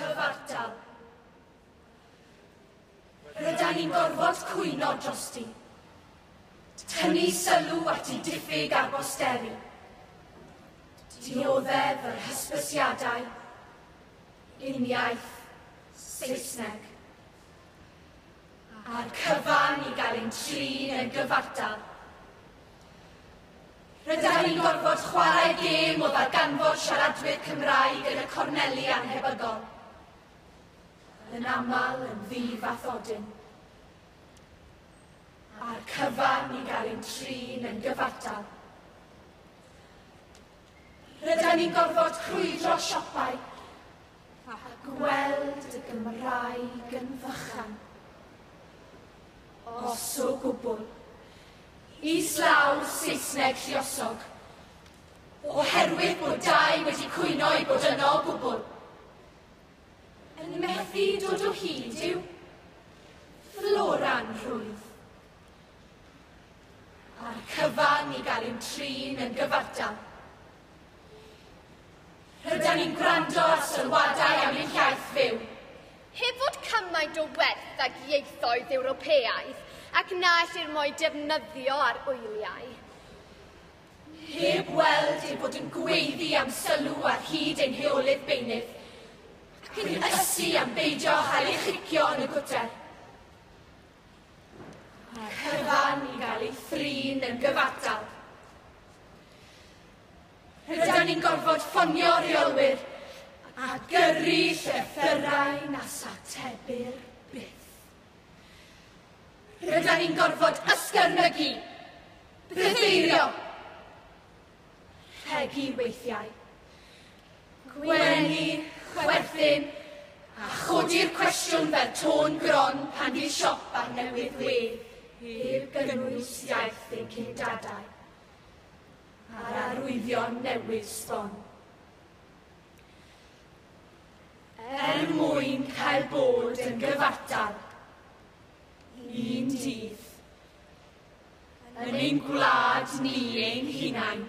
Cyfartal. Rydyn ni'n gorfod cwyno drosti. Tynnu sylw at ei diffyg ar bosteri. Dioddef yr hysbysiadau. Uniaith. Saesneg. A'r cyfan i gael ein trin yn gyfartal. Rydyn ni'n gorfod chwarae gêm o ddarganfod siaradwyr Cymraeg yn y corneli annhebygol. Yn aml yn ddi-fathodyn. A'r cyfan i gael ein trin yn gyfartal. Rydyn ni'n gorfod crwydro siopau A gweld y Gymraeg yn fychan. Os o gwbl. Islaw Saesneg lluosog. Oherwydd bod dau wedi cwyno i bod yno o gwbl. Yn methu dod o hyd i'w floran rhwydd. A'r cyfan i gael ein trin yn gyfartal. Rydan ni'n gwrando ar sylwadau am ein hiaith fyw. Heb fod cymaint o werth ag ieithoedd Ewropeaidd ac na ellir mo'i defnyddio ar wyliau. Heb weld ei bod yn gweiddi am sylw ar hyd ein heolydd beunydd. Cyn ysu am beidio â chael ei chicio yn y gwter. Mae cyfan i gael ei thrin yn gyfartal. Rydan ni'n gorfod ffonio rheolwyr a gyrru llythyrau na satebir byth. Rydan ni'n gorfod ysgyrnygu, bytheirio, rhegi weithiau, gwenu, chwerthin, a chodi'r cwestiwn fel tôn gron pan fydd siop ar newydd wedd heb gynnwys iaith ein cyn-dadau. a'r arwyddion newydd sbon. Er mwyn cael bod yn gyfartal, un dydd, yn ein gwlad ni ein hunain,